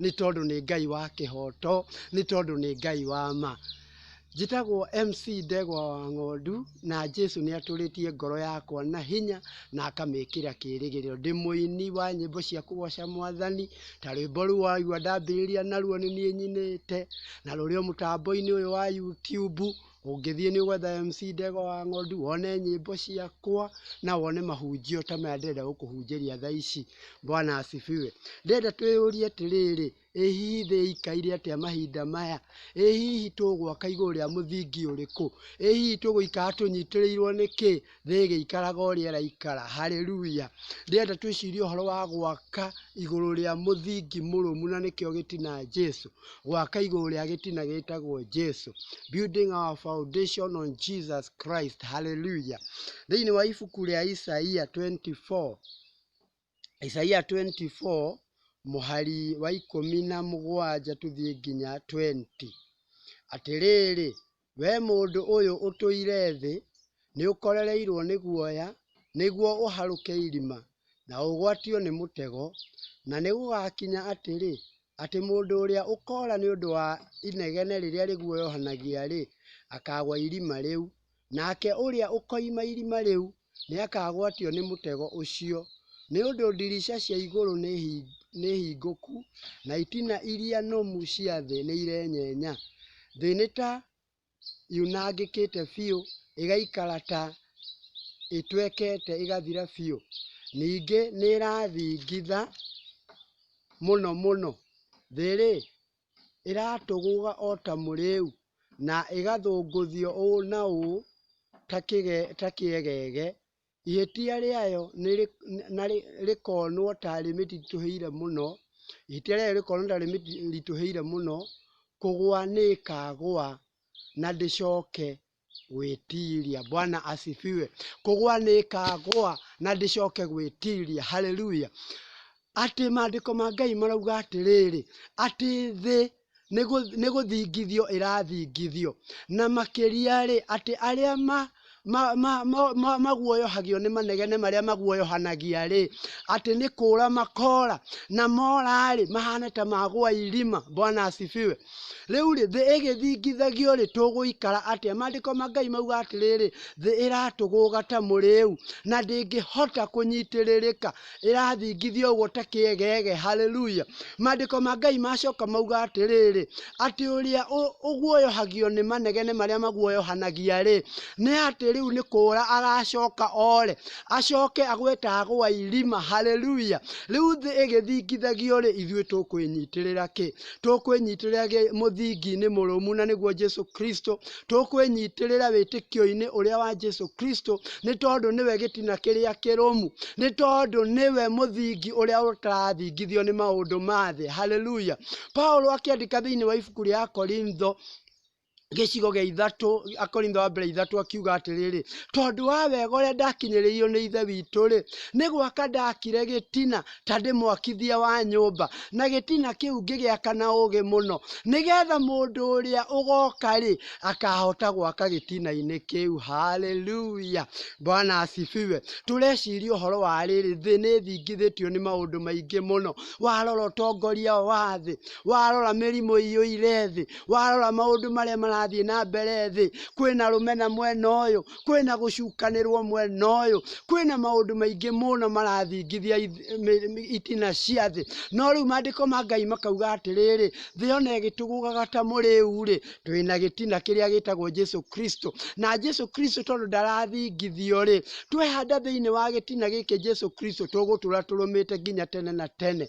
nĩ tondũ nĩ Ngai wa kĩhoto, nĩ tondũ nĩ Ngai wa ma. Njĩtagwo MC Ndegwa wa Ng'ondu, na Jesũ nĩ atũrĩtie ngoro yakwa na hinya na akamĩkĩra kĩrĩgĩrĩro. Ndĩ mũini wa nyĩmbo cia kũgoca mwathani, ta rwĩmbo rũu waigua ndambĩrĩria naruo nĩ niĩ nyinĩte, na rũrĩ o mũtambo-inĩ ũyũ wa YouTube. Ũngĩthiĩ nĩ ũgwetha MC Ndegwa wa Ng'ondu, wone nyĩmbo ciakwa, na wone mahunjio ta maya ndĩrenda gũkũhunjĩria thaa ici. Bwana asifiwe. Ndĩrenda twĩyũrie atĩrĩrĩ, ĩ hihi thĩ ĩikaire atĩa mahinda maya? Ĩ hihi tũgwaka igũrũ rĩa mũthingi ũrĩkũ? Ĩ hihi tũgũikara tũnyitĩrĩirwo nĩ kĩ? rĩgĩikaraga o ũrĩa rĩraikara. Hallelujah. Ndĩrenda twĩcirie ũhoro wa gwaka igũrũ rĩa mũthingi mũrũmu na nĩkĩo gĩtina Jesu. Gwaka igũrũ rĩa gĩtina gĩtagwo Jesu. Building our foundation on Jesus Christ. Hallelujah. Thĩinĩ wa ibuku rĩa Isaia 24 Isaia 24 mũhari wa ikũmi na mũgwanja tũthiĩ nginya 20. Atĩrĩrĩ, we mũndũ ũyũ ũtũire thĩ, nĩũkorereirwo nĩ guoya, nĩguo ũharũke irima, na ũgwatio nĩ mũtego. Na nĩgũgakinya atĩrĩ, atĩ mũndũ ũrĩa ũkoora nĩ ũndũ wa inegene rĩrĩa rĩguoyohanagia-rĩ, akaagwa irima rĩu, Nake ũrĩa ũkoima irima rĩu nĩakagwatio nĩ mũtego ũcio, nĩ ũndũ ndirica cia igũrũ nĩhingũku, na itina iria nũmu cia thĩ nĩirenyenya. Thĩ nĩ ta yunangĩkĩte biũ, ĩgaikara ta ĩtwekete ĩgathira biũ, ningĩ nĩĩrathingitha mũno mũno, thĩ-rĩ, ĩratũgũga o ta mũrĩĩu, na ĩgathũngũthio ũũ na ũũ ta kĩegege, ihĩtia rĩayo rĩkonwo ta rĩmĩritũhĩire mũno, ihĩtia rĩayo rĩkonwo ta rĩmĩritũhĩire mũno, kũgũa nĩ ĩkaagũa na ndĩcooke. gwĩtiiria. Bwana asifiwe. Kũgwa nĩĩkagwa na ndĩcoke gwĩtiiria. Haleluya. Atĩ maandĩko ma Ngai marauga atĩrĩrĩ, atĩ thĩ nĩ gũ- nĩ gũthingithio ĩrathingithio. Na makĩria-rĩ, atĩ arĩa ma ma- ma- ma- ma- maguoyohagio nĩ manegene marĩa maguoyohanagia-rĩ, atĩ nĩ kũũra makoora, na mora-rĩ, mahane ta magwa irima. Bwana asifiwe. Rĩu-rĩ, thĩ ĩgĩthingithagio-rĩ, tũgũikara atĩa? Maandĩko ma Ngai mauga atĩrĩrĩ, thĩ ĩratũgũga ta mũrĩu, na ndĩngĩhota kũnyitĩrĩrĩka, ĩrathingithio ũguo ta kĩegege. Haleluya! Maandĩko ma Ngai macoka mauga atĩrĩrĩ, atĩ ũrĩa ũ- ũguoyohagio nĩ manegene marĩa maguoyohanagia-rĩ, nĩ atĩ rĩu nĩ kũũra agacoka ore, acoke agwe ta agwa irima. Haleluya! Rĩu thĩ ĩgĩthingithagio-rĩ, ithuĩ tũkwĩnyitĩrĩra kĩ? tũkwĩnyitĩrĩra gĩ- mũthingi-inĩ mũrũmu na nĩguo Jesu Kristo, tũkwĩnyitĩrĩra wĩtĩkio-inĩ ũrĩa wa Jesu Kristo, nĩ tondũ nĩwe gĩtina kĩrĩa kĩrũmu, nĩ tondũ nĩwe mũthingi ũrĩa ũtarathingithio nĩ maũndũ ma thĩ. Haleluya! Paulo akĩandĩka thĩinĩ wa ibuku rĩa Akorintho gĩcigo gĩa ithatũ, Akorintho wa mbere ithatũ akiuga atĩrĩrĩ, tondũ wa wega ũrĩa ndakinyĩrĩirio nĩ ithe witũ-rĩ, nĩ gwaka ndakire gĩtina ta ndĩ mwakithia wa nyũmba, na gĩtina kĩu ngĩgĩaka na ũũgĩ mũno, nĩgetha mũndũ ũrĩa ũgoka-rĩ, akahota gwaka gĩtina-inĩ kĩu. Haleluya! Bwana asifiwe. Tũreciria ũhoro wa rĩrĩ, thĩ nĩ ĩthingithĩtio nĩ maũndũ maingĩ mũno. Warora ũtongoria wa thĩ, warora mĩrimũ ĩiyũire thĩ, warora maũndũ marĩa marathiĩ na mbere thĩ kwĩna rũmena mwena ũyũ kwĩna gũcukanĩrwo mwena ũyũ kwĩna maũndũ maingĩ mũno marathingithia ith- mĩ- mĩ- itina cia thĩ no rĩu maandĩko ma ngai makauga atĩrĩrĩ thĩ ona ĩgĩtũgũgaga ta mũrĩu-rĩ twĩna gĩtina kĩrĩa gĩtagwo jesu kristo na jesu kristo tondũ ndarathingithio-rĩ twehanda thĩinĩ wa gĩtina gĩkĩ jesu kristo tũgũtũra tũrũmĩte nginya tene na tene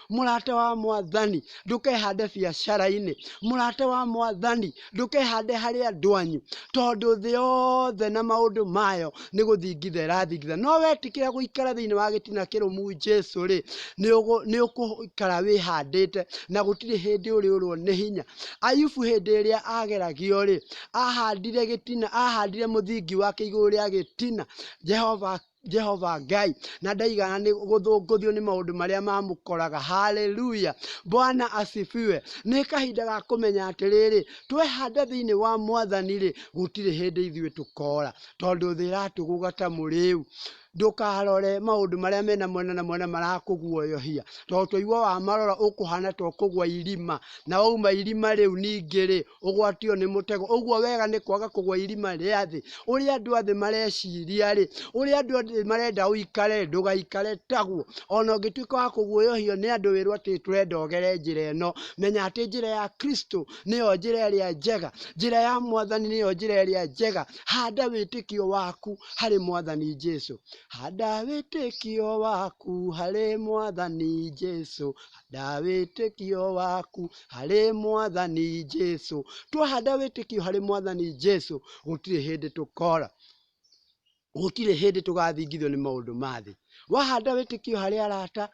Mũrata wa mwathani ndũkehande biacara-inĩ. Mũrata wa mwathani ndũkehande harĩ andũ anyu, tondũ thĩ yothe na maũndũ mayo nĩ gũthingitha ĩrathingitha. No wetĩkĩra gũikara thĩinĩ wa gĩtina kĩrũmu Jesu-rĩ, nĩ ũgũikara wĩhandĩte na gũtirĩ hĩndĩ ũrĩũrwo nĩ hinya. Ayubu hĩndĩ ĩrĩa ageragio-rĩ, ahandire gĩtina, ahandire mũthingi wake igũrũ rĩa gĩtina, Jehova Jehova Ngai na ndaigana nĩ gũthũngũthio nĩ maũndũ marĩa mamũkoraga. Haleluya! Bwana asifiwe. Nĩ kahinda ga kũmenya atĩrĩrĩ, twehanda thĩinĩ wa Mwathani-rĩ, gũtirĩ hĩndĩ ithuĩ tũkora, tondũ thĩ ĩratũgũga ta mũrĩu. Ndũkarore maũndũ marĩa mena mwena na mwena marakũguoyohia, tondũ twaigua wamarora ũkũhana ta ũkũgwa irima, na wauma irima rĩu ningĩ-rĩ, ũgwatio nĩ mũtego ũguo wega nĩ kwaga kũgwa irima rĩa thĩ ũrĩa andũ athĩ mareciria rĩ ũrĩa andũ athĩ marenda ũikare ndũgaikare taguo ona ũngĩtuĩka wa kũguoyohio nĩ andũ wĩrwo atĩ tũrenda ũgere njĩra ĩno menya atĩ njĩra ya kristo nĩyo njĩra ĩrĩa njega njĩra ya mwathani nĩyo njĩra ĩrĩa njega handa wĩtĩkio waku harĩ mwathani jesu handa wĩtĩkio waku harĩ mwathani jesu na wĩtĩkio waku harĩ mwathani Jesu. Twahanda wĩtĩkio harĩ mwathani Jesu, gũtirĩ hĩndĩ tũkora, gũtirĩ hĩndĩ tũgathingithio nĩ maũndũ ma thĩ. Wahanda wĩtĩkio harĩ arata,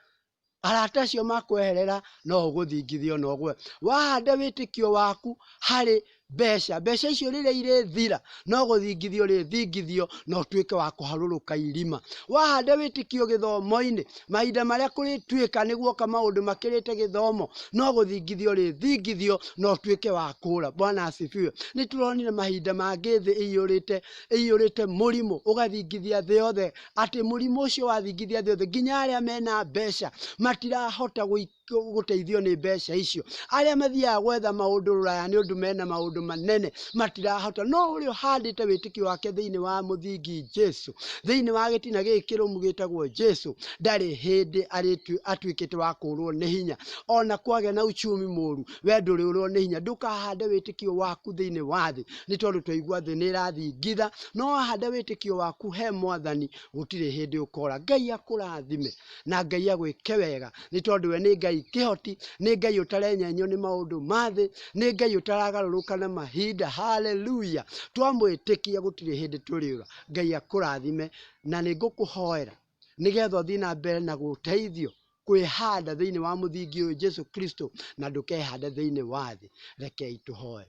arata acio makweherera no ũgũthingithio na ũgwe. Wahanda wĩtĩkio waku harĩ Mbeca, mbeca icio rĩrĩa irĩthira, no gũthingithia ũrĩthingithio na ũtuĩke wa kũharũrũka irima. Wahande wĩtĩkio gĩthomo-inĩ, mahinda marĩa kũrĩtuĩka nĩ guoka maũndũ makĩrĩte gĩthomo, no gũthingithia ũrĩthingithio na ũtuĩke wa kũra. Bwana asifiwe. Nĩ tũronire mahinda mangĩ thĩ ĩiyũrĩte ĩiyũrĩte mũrimũ ũgathingithia thĩ yothe, atĩ mũrimũ ũcio wathingithia thĩ yothe, nginya arĩa mena mbeca matirahota gũi- gũteithio nĩ mbeca icio. Arĩa mathiaga gwetha maũndũ rũraya nĩ ũndũ mena maũndũ manene matirahota, no ũrĩa ũhandĩte wĩtĩkio wake thĩinĩ wa mũthingi Jesu, thĩinĩ wa gĩtina gĩkĩ kĩrũmu gĩtagwo Jesu, ndarĩ hĩndĩ arĩtu- atuĩkĩte wa kũũrwo nĩ hinya. Ona kwagĩa na uchumi mũũru, we ndũrĩũrwo nĩ hinya. Ndũkahande wĩtĩkio waku thĩinĩ wa thĩ, nĩ tondũ twaigua thĩ nĩ ĩrathingitha, no wahanda wĩtĩkio waku he Mwathani, gũtirĩ hĩndĩ ũkora. Ngai akũrathime. na Ngai agwĩke wega, nĩ tondũ we nĩ Ngai kĩhoti, nĩ Ngai ũtarenyenywo nĩ maũndũ ma thĩ, nĩ Ngai ũtaragarũrũka na mahinda. Haleluya! Twamwĩtĩkia gũtirĩ hĩndĩ tũrĩũra. Ngai akũrathime, na nĩ ngũkũhoera nĩgetha ũthiĩ na mbere na gũteithio kwĩhanda thĩinĩ wa mũthingi ũyũ Jesu Kristo, na ndũkehande thĩinĩ wa thĩ. Rekei tũhoe.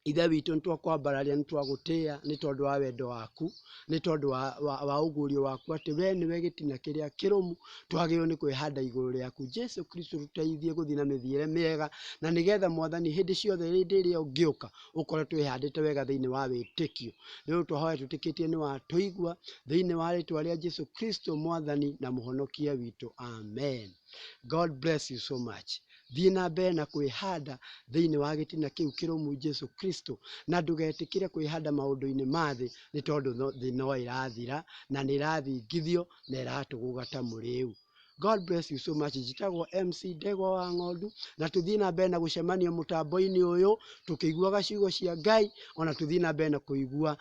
Ithe witũ, nĩ twakwambararia, nĩ twagũtĩĩa nĩ tondũ wa wendo waku, nĩ tondũ wa ũguũrio waku atĩ we nĩwe gĩtina kĩrĩa kĩrũmu, twagĩrĩirwo nĩ kwĩhanda igũrũ rĩaku. Jesu Kristo tũteithie gũthiĩ na mĩthiĩre mĩega, na nĩ getha Mwathani hĩndĩ ciothe hĩndĩ ĩrĩa ũngĩũka, ũkore twĩhandĩte wega thĩinĩ wa wĩtĩkio. Nĩ ũndũ twahoya twĩtĩkĩtie nĩ watũigua, thĩinĩ wa rĩtwa rĩa Jesu Kristo Mwathani na Mũhonokia witũ. Amen. God bless you so much. Thiĩ na mbere na kwĩhanda thĩinĩ wa gĩtina kĩu kĩrũmu, Jesu Kristo, na ndũgetĩkĩre kwĩhanda maũndũ-inĩ ma thĩ, nĩ tondũ thĩ no ĩrathira, na nĩ ĩrathingithio, na ĩratũgũga ta mũrĩĩu. God bless you so much. Njĩtagwo MC Ndegwa wa Ng'ondu, na tũthiĩ na mbere na gũcemania mũtambo-inĩ ũyũ, tũkĩiguaga ciugo cia Ngai, ona tũthiĩ na mbere na kũigua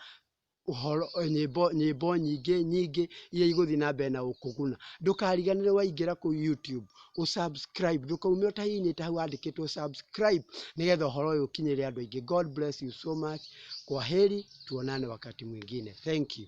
ũhoro, nyĩmbo, nyĩmbo nyingĩ nyingĩ iria igũthiĩ na mbere na gũkũguna. Ndũkariganĩrwo waingĩra kũu YouTube, ũ subscribe, ndũkaume ũtahihinyĩte hau handĩkĩtwo subscribe, nĩgetha ũhoro ũyũ ũkinyĩre andũ aingĩ. God bless you so much. Kwaheri, tuonane wakati mwingine. Thank you.